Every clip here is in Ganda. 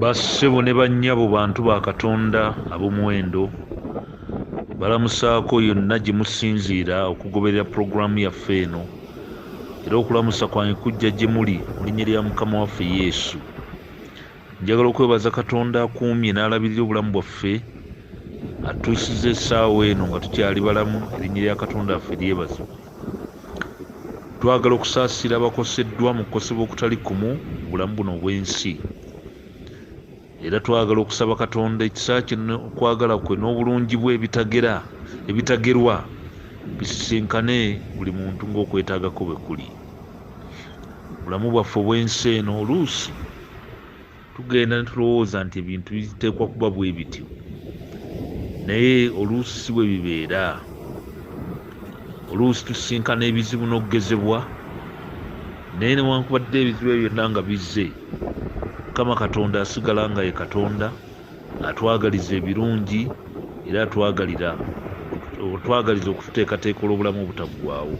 bassebo ne bannyabo bantu ba katonda ab'omuwendo balamusaako yonna gye musinziira okugoberera pulogulaamu yaffe eno era okulamusa kwange kujja gye muli mu linnya lya mukama waffe yesu njagala okwebaza katonda akuumye n'alabirira obulamu bwaffe atuusiza essaawa eno nga tukyali balamu erinnya lya katonda affe lyebazibwa Twagala okusaasira abakoseddwa mu kukosebwa okutali kumu mu bulamu buno obw'ensi. Era twagala okusaba Katonda ekisa kye n'okwagala kwe n'obulungi bwe ebitagera ebitagerwa bisisinkane buli muntu ng'okwetaaga kwe bwe kuli. Mu bulamu bwaffe obw'ensi eno oluusi tugenda ne tulowooza nti ebintu biteekwa kuba bwe bityo naye oluusi si bwe bibeera oluusi tusisinkana ebizibu n'okugezebwa naye newankubadde ebizibu ebyo byonna nga bizze mukama katonda asigala nga ye katonda Atwagaliza ebirungi era atwagalira otwagaliza okututeekateeka olw'obulamu obutaggwaawo.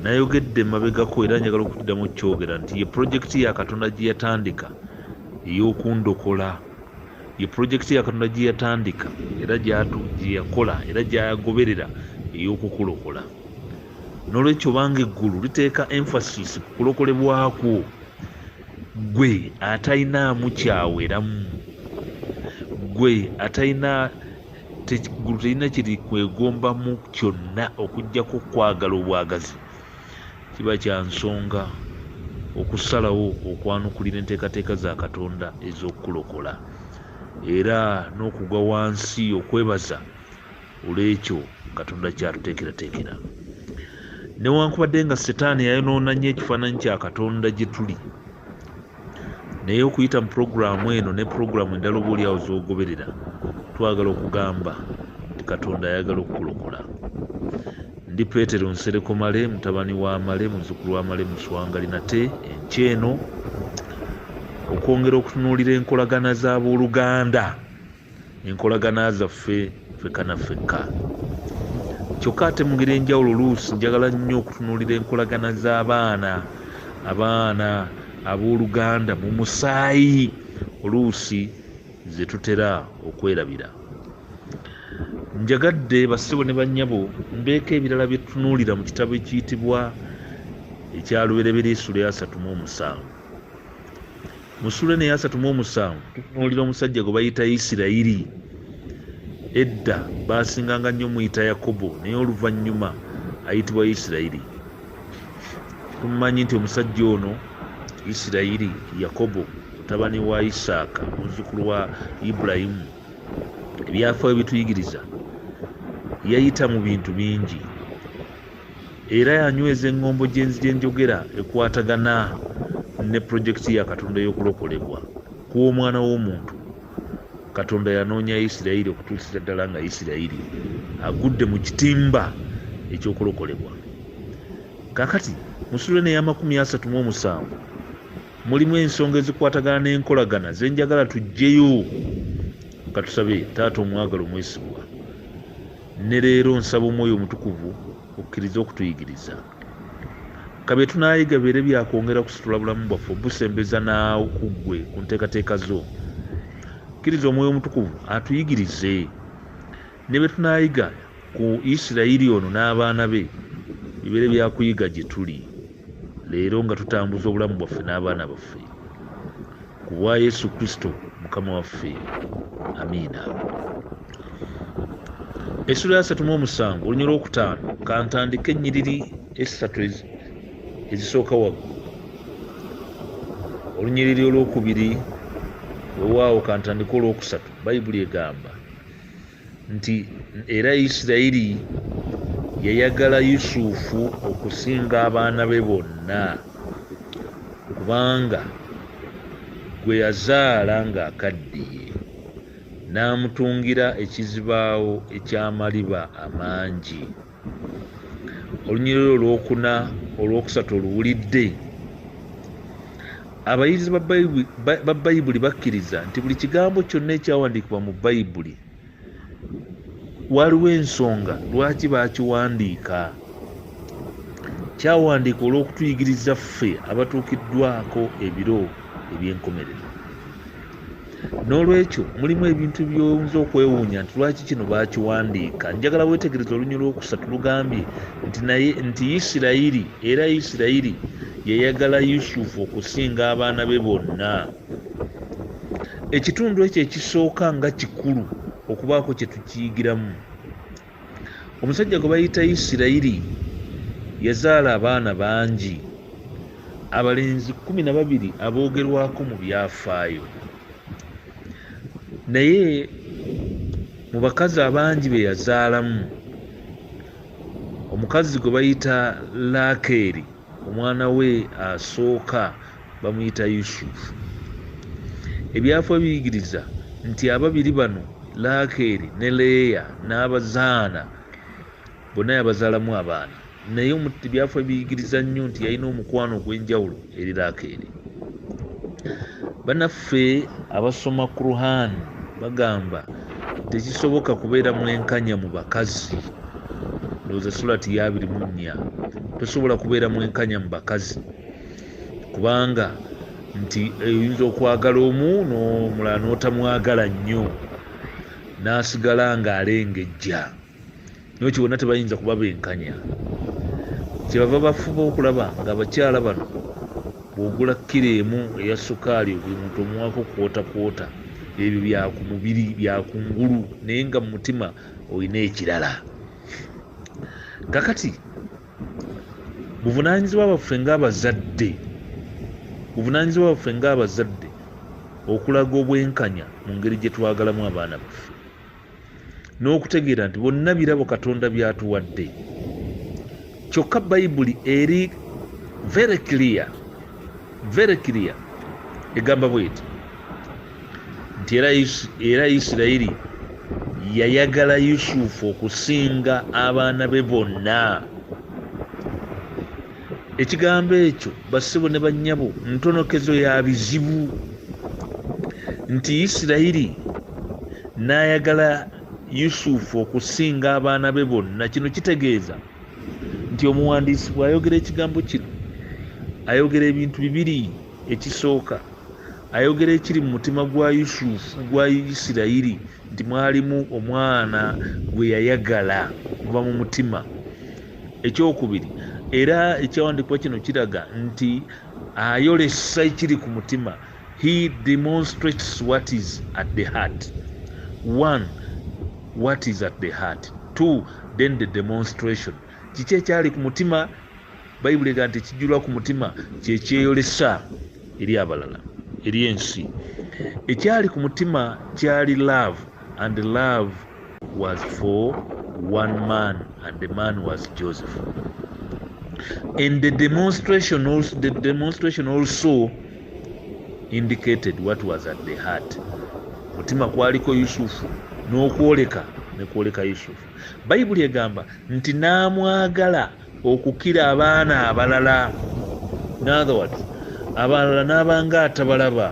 Nayogedde emabegako era njagala okuddamu okukyogera nti ye pulojekiti ya Katonda gye yatandika ey'okundokola. Ye pulojekiti ya Katonda gye yatandika era gye yakola era gy'agoberera ey'okukulokola. N'olwekyo obanga eggulu liteeka emphasis ku kulokolebwa kwo, Ggwe atalinaamu kyaweramu, ggwe atalina eggulu terina kye likwegombamu kyonna okuggyako okwagala obwagazi, kiba kya nsonga okusalawo okwanukulira enteekateeka za Katonda ez'okukulokola era n'okugwa wansi okwebaza. olwekyo katonda kyatuteekerateekera newankubadde nga setaani yayonoona nnyo ekifaananyi kya katonda gye tuli naye okuyita mu pulogulaamu eno ne pulogulaamu endala oba oliawo zogoberera twagala okugamba nti katonda ayagala okukulokola ndi petero nsereko male mutabani wa male muzukulu wa male muswangali nate enky eno okwongera okutunuulira enkolagana z'abooluganda enkolagana zaffe fekka na fekka kyokka ate mu ngeri enjawulo oluusi njagala nnyo okutunuulira enkolagana z'abaana abaana abooluganda mu musaayi oluusi ze tutera okwerabira njagadde bassebo ne bannyabo mbeeko ebirala bye tutunuulira mu kitabo ekiyitibwa ekyalubereberye esula yasatu mu omusanvu mu sula eno eyasatu mu omusanvu tutunuulira omusajja gwe bayita isirayiri edda baasinganga nnyo muyita yakobo naye oluvannyuma ayitibwa isirayiri tumumanyi nti omusajja ono isirayiri yakobo mutabani wa isaaka muzzukulu wa ibulayimu ebyafaayo bituyigiriza yayita mu bintu bingi era yanyweza eŋŋombo gy'enzi gye njogera ekwatagana ne pulojekiti ya katonda ey'okulokolebwa kw'omwana w'omuntu katonda yanoonya isirayiri okutuukira ddala nga isirayiri agudde mu kitimba eky'okulokolebwa kakati musulwe neyamakumi asatu mu omusanvu mulimu ensonga ezikwatagana n'enkolagana zenjagala tujjeyo katusabe taata omwagala omwesigwa ne leero nsaba omwoyo omutukuvu okkirize okutuyigiriza ka bye tunaayiga bibeere byakwongera kusitula bulamu bwaffe obusembeza n'okuggwe ku nteekateeka zo kkiriza omwoyo omutukuvu atuyigirize ne bye tunaayiga ku isirayiri ono n'abaana be bibeere byakuyiga gye tuli leero nga tutambuza obulamu bwaffe n'abaana baffe ku bwa yesu kristo mukama waffe amiina essula ya satu mu omusanvu olunya olwokutaano kantandika ennyiriri essatu ezisooka waggulu olunyiriri olwokubiri wewaawo kantandika olwokusatu bayibuli egamba nti era isirayiri yayagala yusufu okusinga abaana be bonna kubanga gwe yazaala ng'akaddiye n'amutungira ekizibaawo eky'amaliba amangi olunyiriri olwokuna olwokusatu oluwulidde abayizi ba bayibuli bakkiriza nti buli kigambo kyonna ekyawandiikibwa mu bayibuli waliwo ensonga lwaki baakiwandiika kyawandiika olw'okutuyigiriza ffe abatuukiddwako ebiro eby'enkomerero n'olwekyo mulimu ebintu by'oyinza okwewuunya nti lwaki kino baakiwandiika njagala weetegereza olunywa lw'okusatu lugambye nti naye nti isirayiri era isirayiri yayagala yusufu okusinga abaana be bonna ekitundu ekyo ekisooka nga kikulu okubaako kye tukiyigiramu omusajja gwe bayita isirayiri yazaala abaana bangi abalenzi kumi na babiri aboogerwako mu byafaayo naye mu bakazi abangi be yazaalamu omukazi gwe bayita laakeeri omwana we asooka bamuyita yusuf ebyafo biyigiriza nti ababiri bano lakeeri ne leeya n'abazaana bonna yabazaalamu abaana naye ebyafo biyigiriza nnyo nti yalina omukwano ogw'enjawulo eri lakeeri banaffe abasoma quran bagamba tekisoboka kubeera mwenkanya mu bakazi ndowooza sulati yabiri mu nnya tosobola kubeera mwenkanya mu bakazi kubanga nti oyinza okwagala omu nomulala notamwagala nnyo nasigala nga alengejja naye kyo bonna tebayinza kuba benkanya kyebava bafuba okulaba nga abakyala bano bwogula kkiro emu eya sukaali buli muntu omuwako kwota kwota ebyo byaku mubiri byakungulu naye nga mu mutima olina ekirala kakati buvunanyizibwa baffe ngaabazadde buvunanyizibwa baffe ngaabazadde okulaga obwenkanya mu ngeri gye twagalamu abaana baffe n'okutegeera nti bonna birabo katonda byatuwadde kyokka bayibuli eri very clear very clear egamba bweti nti era isirayiri yayagala yusufu okusinga abaana be bonna ekigambo ekyo bassebo ne bannyabo ntonokezo ya bizibu nti isirayiri n'ayagala yusufu okusinga abaana be bonna kino kitegeeza nti omuwandiisi bw'ayogera ekigambo kino ayogera ebintu bibiri ekisooka ayogera ekiri mu mutima gwa yusufu gwa isirayiri nti mwalimu omwana gwe yayagala kuva mu mutima ekyokubiri era ekyawandiikibwa kino kiraga nti ayolesa ekiri ku mutima he demonstrates what is at the heart one what is at the heart two then the demonstration kiki ekyali ku mutima bayibuli ega nti ekijulwa ku mutima kyekyeyolesa eri abalala eri ensi ekyali ku mutima kyali love and love was for one man and the man was joseph and the demonstration also, the demonstration also indicated what was at the heart mutima kwaliko yusufu n'okwoleka nekwoleka yusufu bayibuli egamba nti n'amwagala okukira abaana abalala natherwards abalala n'abanga atabalaba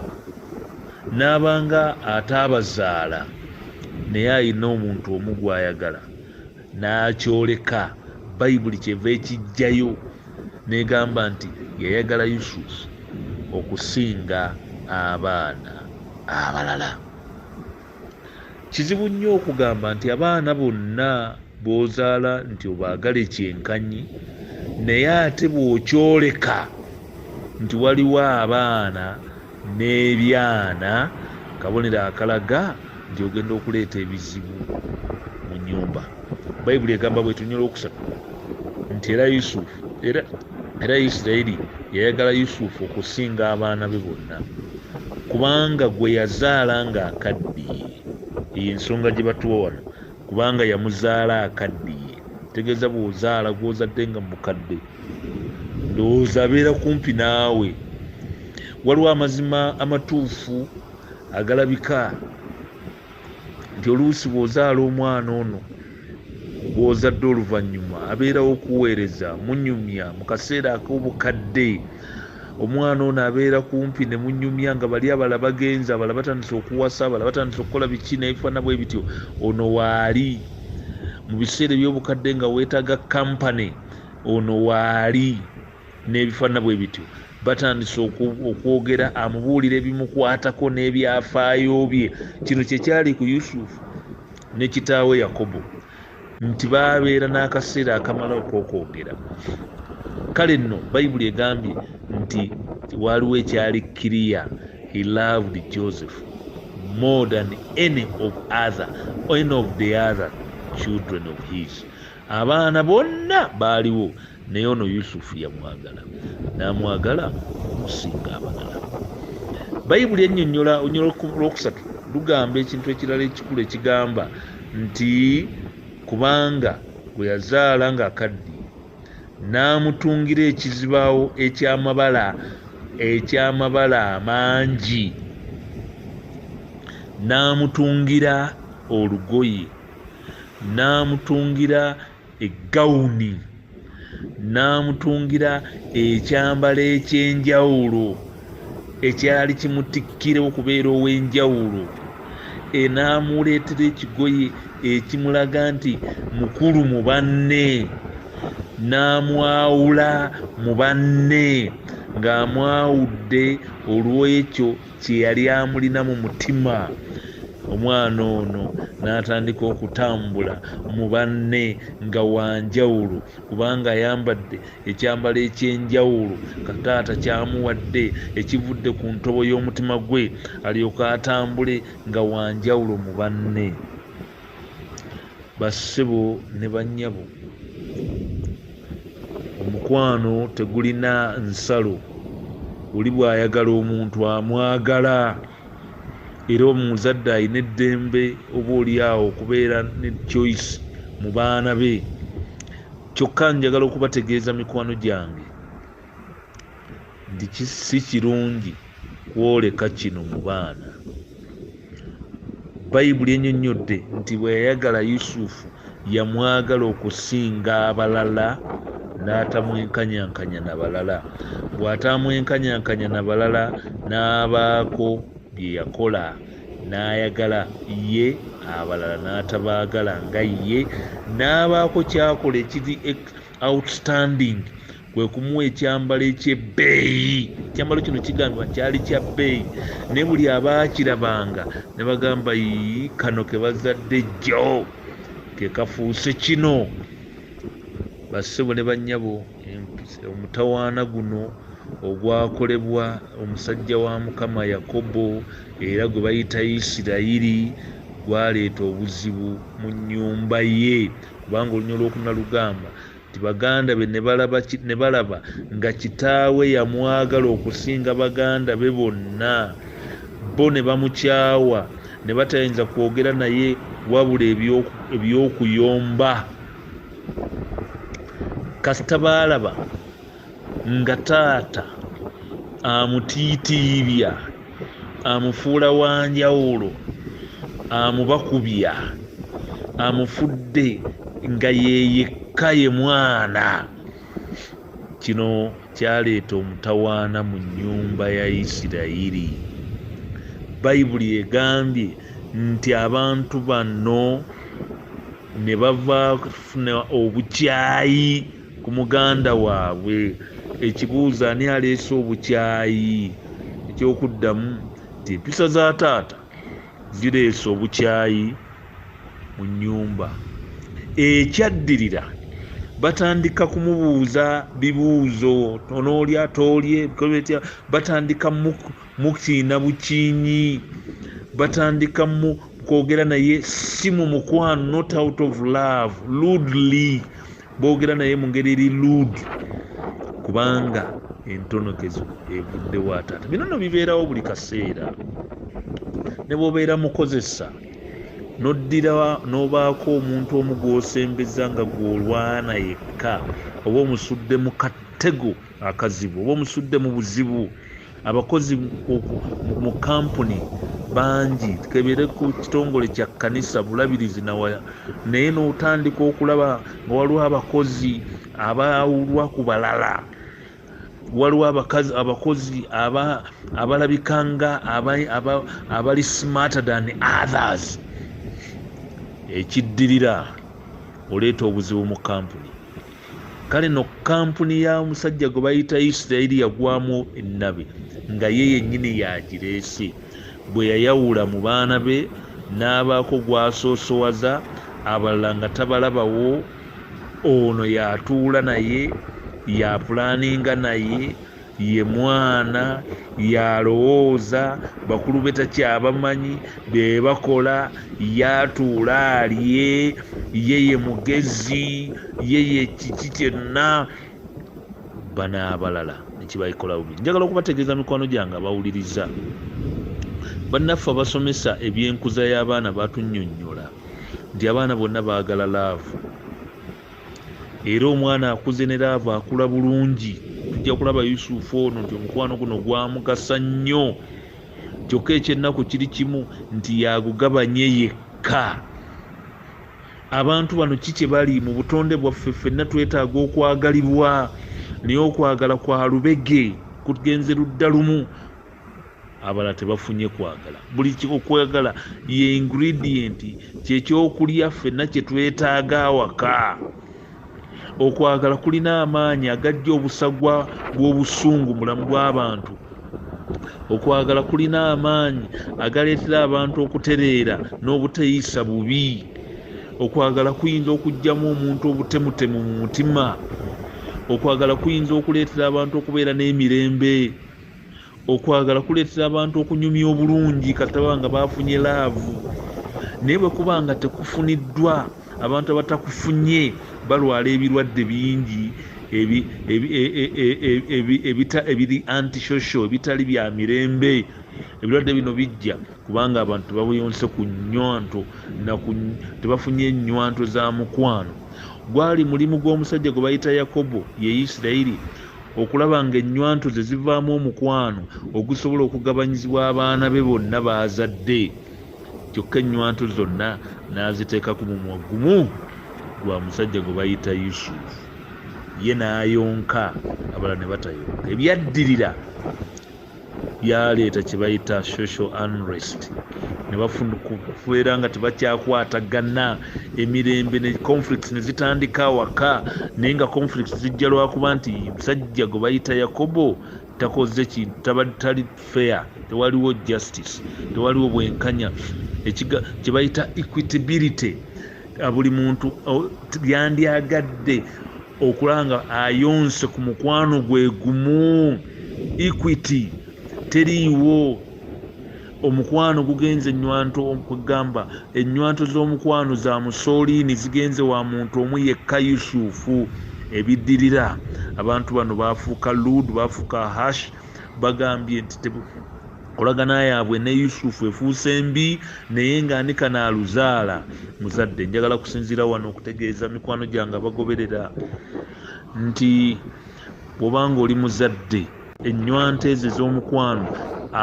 n'abanga ataabazaala naye alina omuntu omu gwayagala n'akyoleka bayibuli kyeva ekijjayo negamba nti yayagala yusufu okusinga abaana abalala Kizibu nnyo okugamba nti abaana bonna b'ozaala nti obaagale kyenkanyi naye ate bw'okyoleka nti waliwo abaana n'ebyana kabonero akalaga nti ogenda okuleeta ebizibu mu nnyumba. Bayibuli egamba bwetunyola okusatu nti era Yusufu era era isirairi yayagala yusufu okusinga abaana be bonna kubanga gwe yazaala nga akaddiye eyo ensonga gye batuwa wano kubanga yamuzaala akaddiye tegeeza bwozaala gwozadde nga mukadde ndowooza abeera kumpi naawe waliwo amazima amatuufu agalabika nti oluusi bw'ozaala omwana ono gw'ozadde oluvannyuma abeerawo okuweereza munyumya mu kaseera ak'obukadde omwana ono abeera kumpi ne munyumya nga bali abala bagenzi abala batandise okuwasa abala batandise okukola biki nebifaana bwe bityo ono waali mu biseera eby'obukadde nga weetaaga kampani ono waali n'ebifaanana bwe bityo batandise okwogera amubuulira ebimukwatako n'ebyafaayo bye kino kye kyali ku yusufu ne kitaawe yakobo nti baabeera n'akaseera akamala okwokwogera kale nno bayibuli egambye nti waaliwo ekyali kiriya he loved joseph more than any of other any of the other children of his abaana bonna baaliwo naye ono yusufu yamwagala namwagala okusinga abalala bayibuli ennyonnyola onyolo lwokusatu lugamba ekintu ekirala ekikulu ekigamba nti kubanga gwe yazaala ng'akaddi n'amutungira ekizibaawo ekyamabala ekyamabala amangi n'amutungira olugoye n'amutungira eggawuni n'amutungira ekyambalo eky'enjawulo ekyali kimutikkira okubeera ow'enjawulo e n'amuleetera ekigoye ekimulaga nti mukulu mu banne n'amwawula mu banne ng'amwawudde olw'ekyo kye yali amulina mu mutima omwana ono n'atandika okutambula mu banne nga wanjawulo kubanga ayambadde ekyambalo ekyenjawulo kataata kyamuwadde ekivudde ku ntobo y'omutima gwe alyoke atambule nga wanjawulo mu banne Bassebo ne bannyabo, omukwano tegulina nsalo. Oli bw'ayagala omuntu amwagala era omuzadde alina eddembe oboolyawo okubeera ne choice mu baana be. Kyokka njagala okubategeeza mikwano gyange nti si kirungi kwoleka kino mu baana bayibuli enyonnyodde nti bwe yayagala yusufu yamwagala okusinga abalala n'atamwenkanyankanya na balala bw'atamwenkanyankanya na balala n'abaako bye yakola n'ayagala ye abalala n'atabaagala nga ye n'abaako kyakola ekiri outstanding kwe kumuwa ekyambalo eky'ebbeeyi ekyambalo kino kigambibwa kyali kya bbeeyi naye buli abaakirabanga ne bagamba ii kano ke bazadde jjo ke kafuuse kino bassebo ne bannyabo omutawaana guno ogwakolebwa omusajja wa mukama yakobo era gwe bayita isirayiri gwaleeta obuzibu mu nnyumba ye kubanga olunya olwokuna lugamba nti baganda be ne balaba nga kitaawe yamwagala okusinga baganda be bonna bo ne bamukyawa ne batayinza kwogera naye wabula eby'okuyomba kasita baalaba nga taata amutiitiibya amufuula wa njawulo amubakubya amufudde nga yeyekka ye mwana kino kyaleeta omutawaana mu nnyumba ya isirayiri bayibuli egambye nti abantu bano ne bava funa obukyayi ku muganda waabwe ekibuuzo ani aleese obukyayi ekyokuddamu nti empisa za taata zireese obukyayi mu nnyumba ekyaddirira batandika kumubuuza bibuuzo onoolya toolye bitya batandika mukiina bukiinyi batandika mu kwogera naye si mu mukwano not out of love ludly boogera naye mu ngeri eri luudi kubanga entonokezo evuddewo ataata bino no bibeerawo buli kaseera ne bwobeera mukozesa noddira n'obaako omuntu omu gw'osembeza nga gw'olwana yekka oba omusudde mu katego akazibu oba omusudde mu buzibu abakozi mu kampuni bangi tukebere ku kitongole kya kanisa bulabirizi nawaya naye n'otandika okulaba nga waliwo abakozi abawulwa ku balala waliwo abakazi abakozi abalabika nga abali smarter than others ekiddirira oleeta obuzibu mu kampuni kale no kampuni ya musajja gwe bayita isirairi yagwamu ennabi nga ye yennyini yagireese bwe yayawula mu baana be n'abaako gwasoosowaza abalala nga tabalabawo ono yatuula naye yapulaaninga naye ye mwana yalowooza bakulu be takyabamanyi be bakola yatuula alye ye ye mugezi ye ye kiki kyenna bano abalala nekibaikola bubi njagala okubategeeza mikwano gyange abawuliriza bannaffe abasomesa ebyenkuza y'abaana batunyonyola nti abaana bonna baagala laavu era omwana akuze ne laavu akula bulungi tujja kulaba yusufu ono nti omukwano guno gwamugasa nnyo kyokka ekyennaku kiri kimu nti yagugabanye yekka abantu bano ki kye bali mu butonde bwaffe ffenna twetaaga okwagalibwa naye okwagala kwa lubege kugenze ludda lumu abala tebafunye kwagala buli kikokwagala ye ingredient kyekyokulya ffenna kyetwetaaga awaka okwagala kulina amaanyi agajja obusagwa bw'obusungu mulamu bw'abantu okwagala kulina amaanyi agaleetera abantu okutereera n'obuteeyisa bubi okwagala kuyinza okugyamu omuntu obutemutemu mu mutima okwagala kuyinza okuleetera abantu okubeera n'emirembe okwagala kuleetera abantu okunyumya obulungi kataba nga baafunye laavu naye bwe kuba nga tekufuniddwa abantu abatakufunye balwala ebirwadde bingi e, e, e, ebiri antishosho ebitali bya mirembe ebirwadde bino bijja kubanga abantu tebabuyonse ku nywanto tebafunye nywanto za mukwano gwali mulimu gw'omusajja gwe bayita yakobo ye isirairi okulaba ng'ennywanto ze zivaamu omukwano ogusobola okugabanyizibwa abaana be bonna baazadde kyokka ennywanto zonna n'aziteeka ku mumwa gumu gwa musajja gwe bayita yusufu ye n'ayonka abala ne batayonka ebyaddirira byaleeta kye bayita social unrest ne bafuna kubeera nga tebakyakwatagana emirembe ne conflicts ne zitandika awaka naye nga conflicts zijja lwakuba nti musajja gwe bayita yakobo takoze kintu tali fair tewaliwo justice tewaliwo bwenkanya kye bayita equitability buli muntu yandyagadde okulaba nga ayonse ku mukwano gwe gumu equity teriiwo omukwano gugenze enywanto kwegamba enywanto z'omukwano za musooliini zigenze wa muntu omu yekka yusufu ebiddirira abantu bano baafuuka luud baafuuka hash bagambye nti olagana yaabwe ne yusufu efuuse mbi naye nga ani kanaaluzaala muzadde njagala kusinziira wano okutegeeza mikwano gyange abagoberera nti bwobanga oli muzadde ennywanto ezo ez'omukwano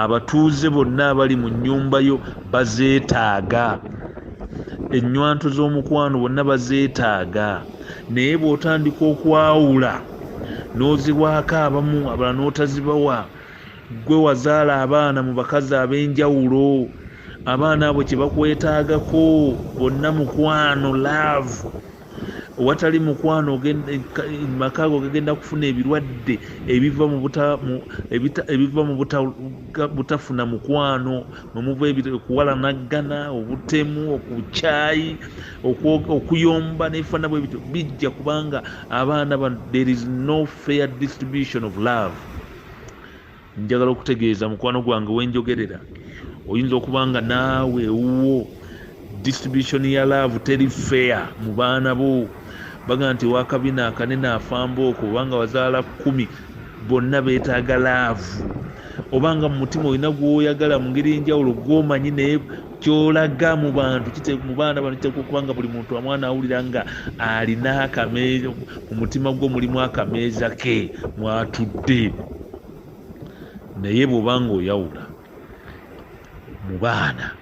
abatuuze bonna abali mu nnyumba yo bazeetaaga ennywanto z'omukwano bonna bazeetaaga naye bw'otandika okwawula n'ozibwako abamu abala n'otazibawa Ggwe wazaala abaana mu bakazi ab'enjawulo, abaana abo kye bakwetaagako bonna mukwano, laavu. Owatali mukwano maka ago gagenda kufuna ebirwadde ebiva mu butafuna mukwano mwe muva okuwalanaggana, obutemu, obukyayi, okuyomba n'ebifaana bwe bityo bijja kubanga abaana bano there is no fair distribution of love. njagala okutegeeza mukwano gwange wenjogerera oyinza okuba nga naawe ewuwo distribution ya love teri fair mu baana bo baga nti wakabina akanene afamba oko obanga wazaala kumi bonna betaaga laavu obanga mu mutima olina gwoyagala mu ngeri enjawulo gwomanyi naye kyolaga mu bantu mu baana bano kiteekwa okuba nga buli muntu amwana awulira nga alina akameeza mu mutima gwo mulimu akameeza ke mwatudde naye bw'oba nga oyawula mu baana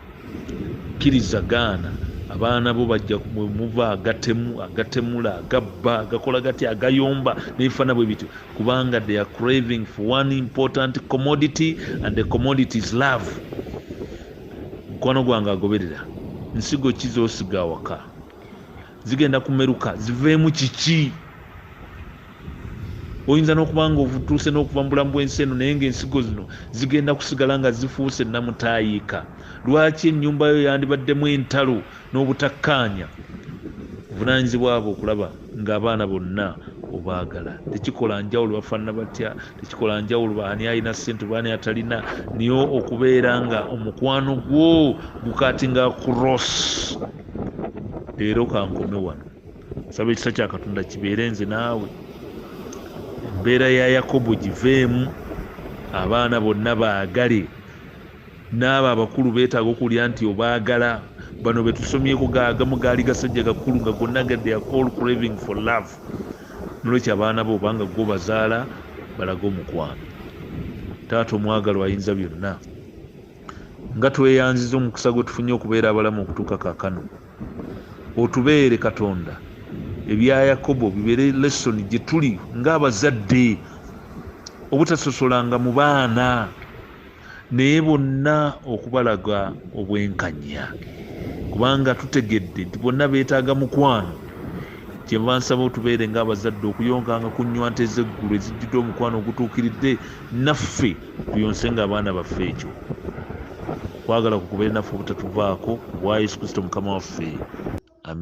kkiriza gaana abaana bo bajja muva agatemu agatemula agabba agakola gati agayomba nebifaana bwe bityo kubanga they are craving for one important commodity and the commodity is love mukwano gwange agoberera nsigo ki zosiga awaka zigenda kumeruka ziveemu kiki oyinza n'okuba nga otuuse n'okuva mu bulamu bw'ensi eno naye ngaensigo zino zigenda kusigala nga zifuuse namutaayiika lwaki ennyumba yo yandibaddemu entalo n'obutakkaanya obuvunaanyizibwa bwe okulaba ng'abaana bonna obaagala tekikola njawulo bafaanana batya tekikola njawulo ani alina sente baani atalina niyo okubeera nga omukwano gwo gukatinga cross leero kankome wano saba ekisa kya katonda kibeere nze naawe embeera ya yakobo giveemu abaana bonna baagale Naabo abakulu betaaga okuwulira nti obaagala. Bano betusomyeko ga agamu gaali gasajja gakulu nga gonna ga their call craving for love. Nolwekyo abaana bo oba nga gwe obazaala balage omukwano. Taata omwagalwa ayinza byonna. Nga tweyanziza omukisa gwetufunye okubeera abalamu okutuuka kakano. Otubeere Katonda ebya Yakobo bibeere lesson gyetuli nga abazadde obutasosolanga mu baana naye bonna okubalaga obwenkanya kubanga tutegedde nti bonna beetaaga mukwano kyenva nsaba otubeere nga abazadde okuyonkanga ku nywa nte ezeggulu ezijjudde omukwano ogutuukiridde naffe tuyonse nga abaana baffe ekyo kwagala kukubeere naffe obutatuvaako obwa yesu kristo mukama waffe